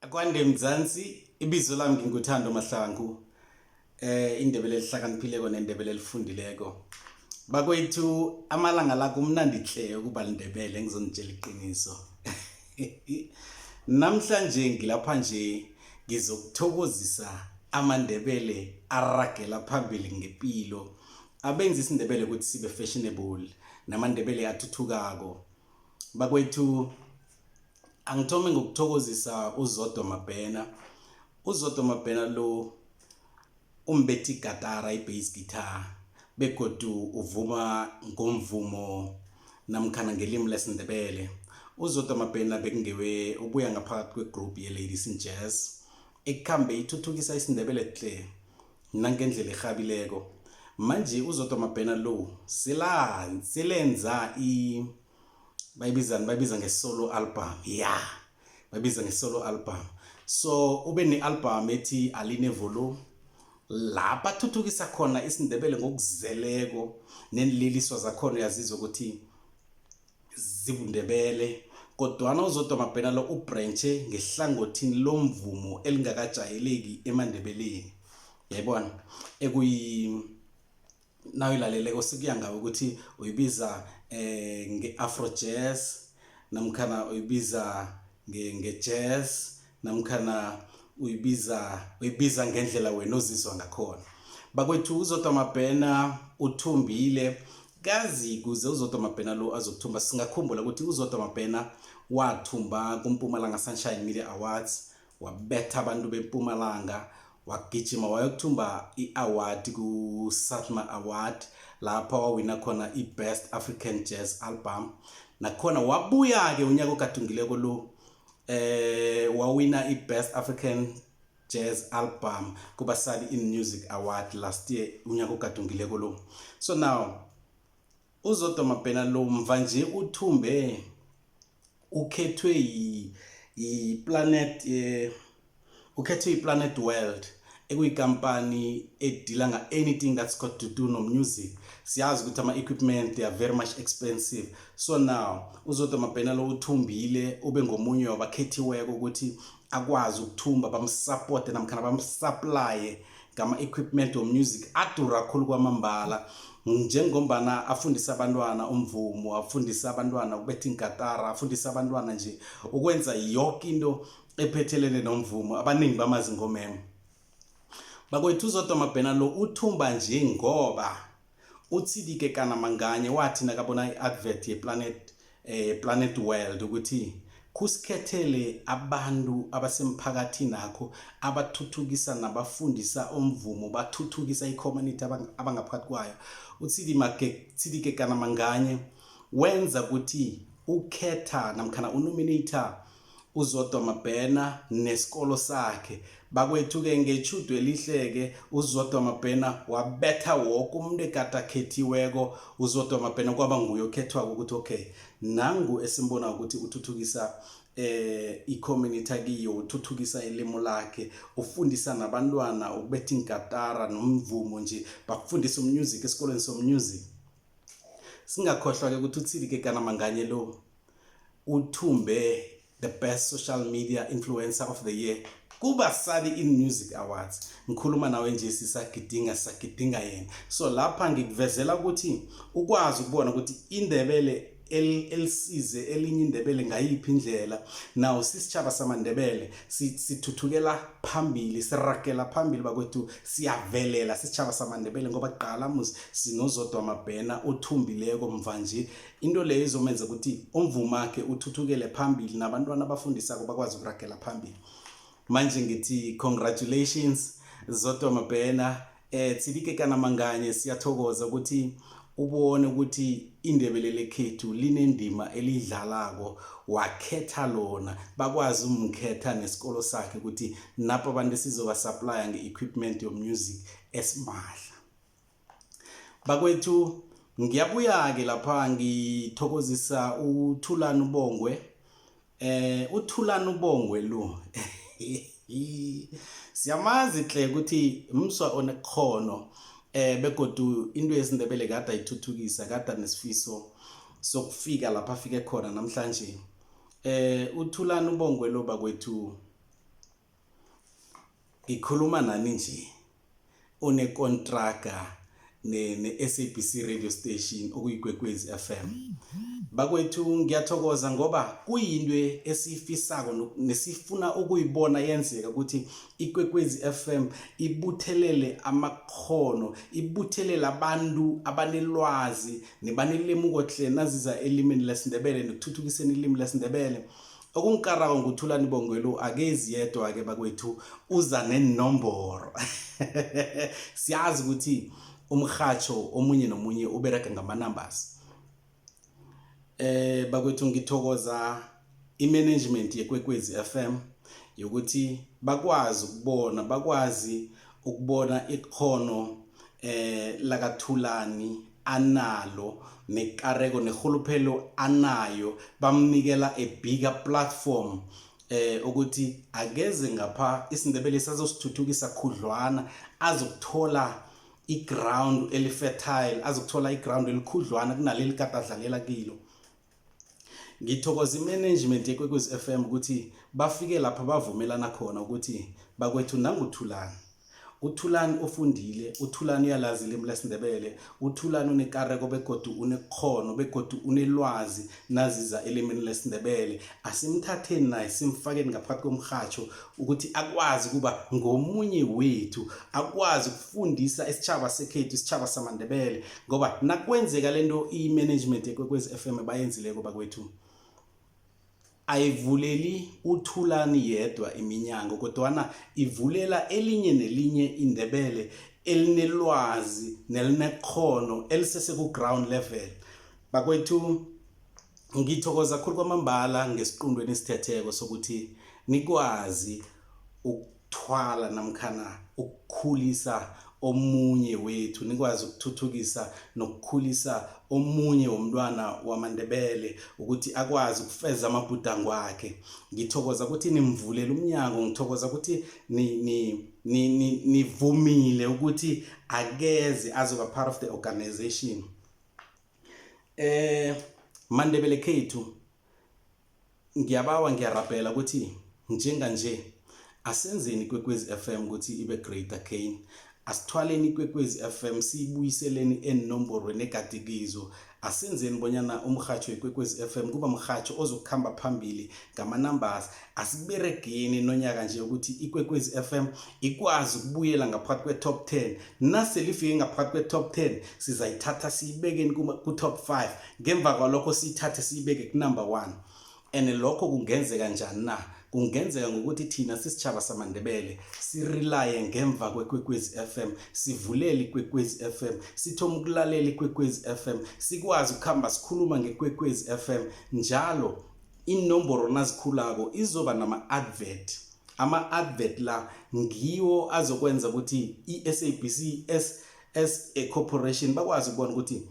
kwande mzansi ibizo lami nginguthando mahlangu eh indebele lihlakaniphileko nendebele lifundileko bakwethu amalanga la kumnandi hle ukuba lindebele ngizonitshela iqiniso namhlanje ngilapha nje ngizokuthokozisa amandebele aragela phambili ngempilo abenza isindebele ukuthi sibe fashionable namandebele athuthukako bakwethu angithome ngokuthokozisa uzodo mabhena uzodo mabhena lo umbethi igatara i-base guitar begodu uvuma ngomvumo namkhana ngelimi lesindebele uzodo mabhena bekungewe ubuya ngaphakathi kwegroup ye-ladies in jazz ekukhambe ithuthukisa isindebele tle nangendlela erhabileko manje uzodo mabhena lo silenza i bayibizani bayibiza nge-solo album ya yeah. bayibiza nge-solo album so ube ne-album ethi aline volume la bathuthukisa khona isindebele ngokuzeleko nenliliswa zakhona uyazizwa ukuthi zibundebele kodwana uzodwa mabhena lo ubranche ngehlangothini lomvumo elingakajayeleki emandebeleni yayibona ekuyi nayo ilaleleko sikuya ngawo ukuthi uyibiza eh nge-afro jazz namkhana uyibiza nge-jazz namkhana uyibiza uyibiza ngendlela wena ozizwa ngakhona bakwethu uzodwa mabhena uthumbile kazi kuze uzodwa mabhena lo azokuthumba singakhumbula ukuthi uzodwa mabhena wathumba kumpumalanga sunshine media awards wabetha abantu bempumalanga wagijima wayokuthumba i-award ku-satma award lapha wawina khona i-best african jazz album nakhona wabuya-ke unyaka ogadungileko lo eh wawina i-best african jazz album kubasali in music award last year unyaka ogadungileko lo so now uzodwa mabhena lo mva nje uthumbe ukhethwe yiplanet eh, ukhethwe yiplanet world ekuyikampani edila nga-anything that's got to do nomusic siyazi ukuthi ama-equipment they are very much expensive so now uzodwa mabhena lo uthumbile ube ngomunye wabakhethiweko ukuthi akwazi ukuthumba bamsapote namkhana bamsaplaye ngama-equipment womusic adura khulu kwamambala njengombana afundisa abantwana umvumo afundisa abantwana ukubetha inkatara afundisa abantwana nje ukwenza yoke into ephethelene nomvumo abaningi bamazingomemo bakwethu uzodwa mabhena lo uthumba nje ngoba uthidike kana manganye wathi nakabona i-advert yeplanet eh, planet world ukuthi kusikhethele abantu abasemphakathini akho abathuthukisa nabafundisa umvumo bathuthukisa i-community abangaphakathi kwayo uthidike kana manganye wenza ukuthi ukhetha namkhana unominator uzodwa mabhena nesikolo sakhe bakwethu-ke ngetjhudu elihleke uzodwa mabhena wabetha woke umuntu egade akhethiweko uzodwa mabhena kwaba nguye okhethwako ukuthi okay nangu esimbona ukuthi uthuthukisa eh icommunity akiyo uthuthukisa ilimo lakhe ufundisa nabantwana ukubetha ingatara nomvumo nje bakufundisa umusic esikolweni somusic singakhohlwa-ke ukuthi uthili-ke kanamanganye lo uthumbe the best social media influencer of the year kubasali in music awards ngikhuluma nawe nje sisagidinga sagidinga yena so lapha ngikuvezela ukuthi ukwazi ukubona ukuthi indebele elisize elinye indebele ngayiphi indlela nawo sisitshaba samandebele sithuthukela phambili sirakela phambili bakwethu siyavelela sisitshaba samandebele ngoba qala muzi sinozodwa amabhena othumbileko mva nje into leyo izomenza ukuthi umvumakhe uthuthukele phambili nabantwana abafundisako bakwazi ukuragela phambili manje ngithi congratulations zodwa mabhena eh Tsilike kana manganye siyathokoza ukuthi ubone ukuthi indebele lekhethu linendima elidlalako wakhetha lona bakwazi umkhetha nesikolo sakhe ukuthi napho abantu sizoba supplya nge-equipment yomusic esimahla bakwethu ngiyabuya-ke lapha ngithokozisa uthulani ubongwe eh uthulani ubongwe lo siyamazi hle ukuthi mswa onekhono eh begodu into yesindebele kade ayithuthukisa kade nesifiso sokufika lapha afike khona namhlanje eh uthulani ubongwe lo bakwethu ngikhuluma nani nje unekontraga ne-SABC radio station okuyigwegwezi FM bakwethu ngiyathokoza ngoba kuyinto esiyifisako nesifuna ukuyibona yenzeka ukuthi ikwekwezi FM ibuthelele amakhono ibuthelele abantu abanelwazi nebanelemuko hle naziza elimini lesindebele nekuthuthukiseni ilimi lesindebele okungikarako nguthulani bongwelo akezi yedwa ke bakwethu uza nenomboro siyazi ukuthi umrhatsho omunye nomunye ubereka ngama-numbers eh bakwethu ngithokoza i-management yekwekwezi FM yokuthi bakwazi ukubona bakwazi ukubona ikhono eh lakathulani analo nekareko nerhuluphelo anayo bamnikela a bigger platform eh ukuthi akeze ngapha isindebele sazosithuthukisa khudlwana azokuthola iground elifertile azokuthola iground elikhudlwana kunaleli kade adlalela kilo ngithokoza imanagement yekwekwezi f m ukuthi bafike lapha bavumelana khona ukuthi bakwethu nanguthulani uthulani ofundile uthulani uyalazi ilimi lesindebele uthulani unekareko begodu unekhono begodu unelwazi naziza elimini lesindebele asimthatheni naye simfakeni ngaphakathi komrhatsho ukuthi akwazi ukuba ngomunye wethu akwazi ukufundisa isitshaba sekhethu isitshaba samandebele ngoba nakwenzeka le nto i-management ekwekwezi f m bayenzileko bakwethu ayivuleli uthulani yedwa iminyango kodwana ivulela elinye nelinye indebele elinelwazi nelinekhono elisesekuground level bakwethu ngithokoza khulu kwamambala ngesiqundweni esithetheko sokuthi nikwazi thwala namkhana ukukhulisa omunye wethu nikwazi ukuthuthukisa nokukhulisa omunye womntwana wamandebele ukuthi akwazi ukufeza amabhudango akhe ngithokoza ukuthi nimvulela umnyango ngithokoza ukuthi ni, ni nivumile ukuthi akeze azoba part of the organization eh mandebele khethu ngiyabawa ngiyarabhela ukuthi njenganje asenzeni ikwekwezi FM ukuthi ibe greater gain asithwaleni ikwekwezi FM siyibuyiseleni eenomborweni egade kizo asenzeni bonyana umrhatsho wekwekwezi FM kuba mrhatsho ozokuhamba phambili ngama-numbers asiberegeni nonyaka nje ukuthi ikwekwezi FM ikwazi ukubuyela ngaphakathi kwe-top 10 nase lifike ngaphakathi kwe-top 10 sizayithatha siyibekeni ku-top 5 ngemva kwalokho siyithathe siyibeke kunumber one and lokho kungenzeka njani na kungenzeka ngokuthi thina sisitshaba samandebele sirelaye ngemva kwekwekwezi FM sivulele ikwekwezi FM sithoma ukulalela ikwekwezi FM sikwazi ukuhamba sikhuluma ngekwekwezi FM njalo inomboro nazikhulako izoba nama-advert ama-advert la ngiwo azokwenza ukuthi i-sabc as a corporation bakwazi ukubona ukuthi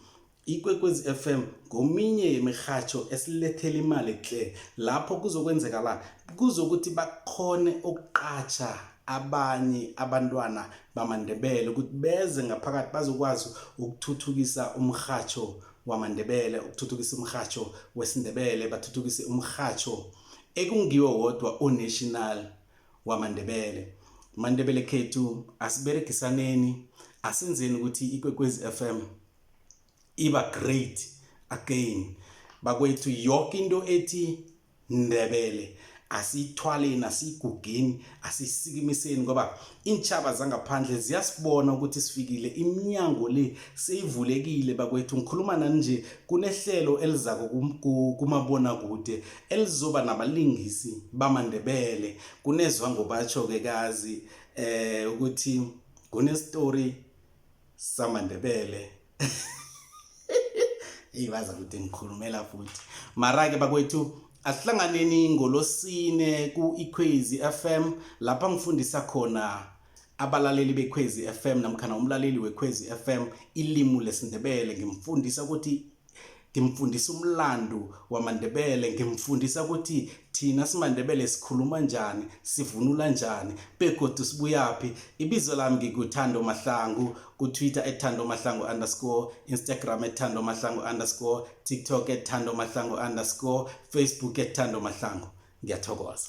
ikwekwezi FM ngominye yemirhatsho esilethela imali tle lapho kuzokwenzeka la kuzokuthi bakhone ukuqatsha abanye abantwana bamandebele ukuthi beze ngaphakathi bazokwazi ukuthuthukisa umrhatsho wamandebele ukuthuthukisa umrhatsho wesindebele bathuthukise umrhatsho ekungiwo wodwa onational wamandebele mandebele khethu asiberegisaneni asenzeni ukuthi ikwekwezi FM iba great again bakwethu yonke into ethi ndebele asiyithwaleni asiyigugeni asiyisikimiseni ngoba iintshaba zangaphandle ziyasibona ukuthi sifikile iminyango le seyivulekile bakwethu ngikhuluma nani nje kunehlelo elizako kumabona kude elizoba nabalingisi bamandebele kunezwa ngobatsho-ke kazi eh ukuthi kunestori samandebele eyi baza kude ngikhulumela futhi mara-ke bakwethu asihlanganeni ngolosine ku-ikhwezi f m lapha ngifundisa khona abalaleli bekhwezi f m namkhana umlaleli wekhwezi f m ilimu lesindebele ngimfundisa ukuthi ngimfundisa umlando wamandebele ngimfundisa ukuthi thina simandebele sikhuluma njani sivunula njani begodu sibuyaphi ibizo lami ngikuthando mahlangu kutwitter ethando mahlangu underscore instagram ethando mahlangu underscore tiktok ethando mahlangu underscore facebook ethando mahlangu ngiyathokoza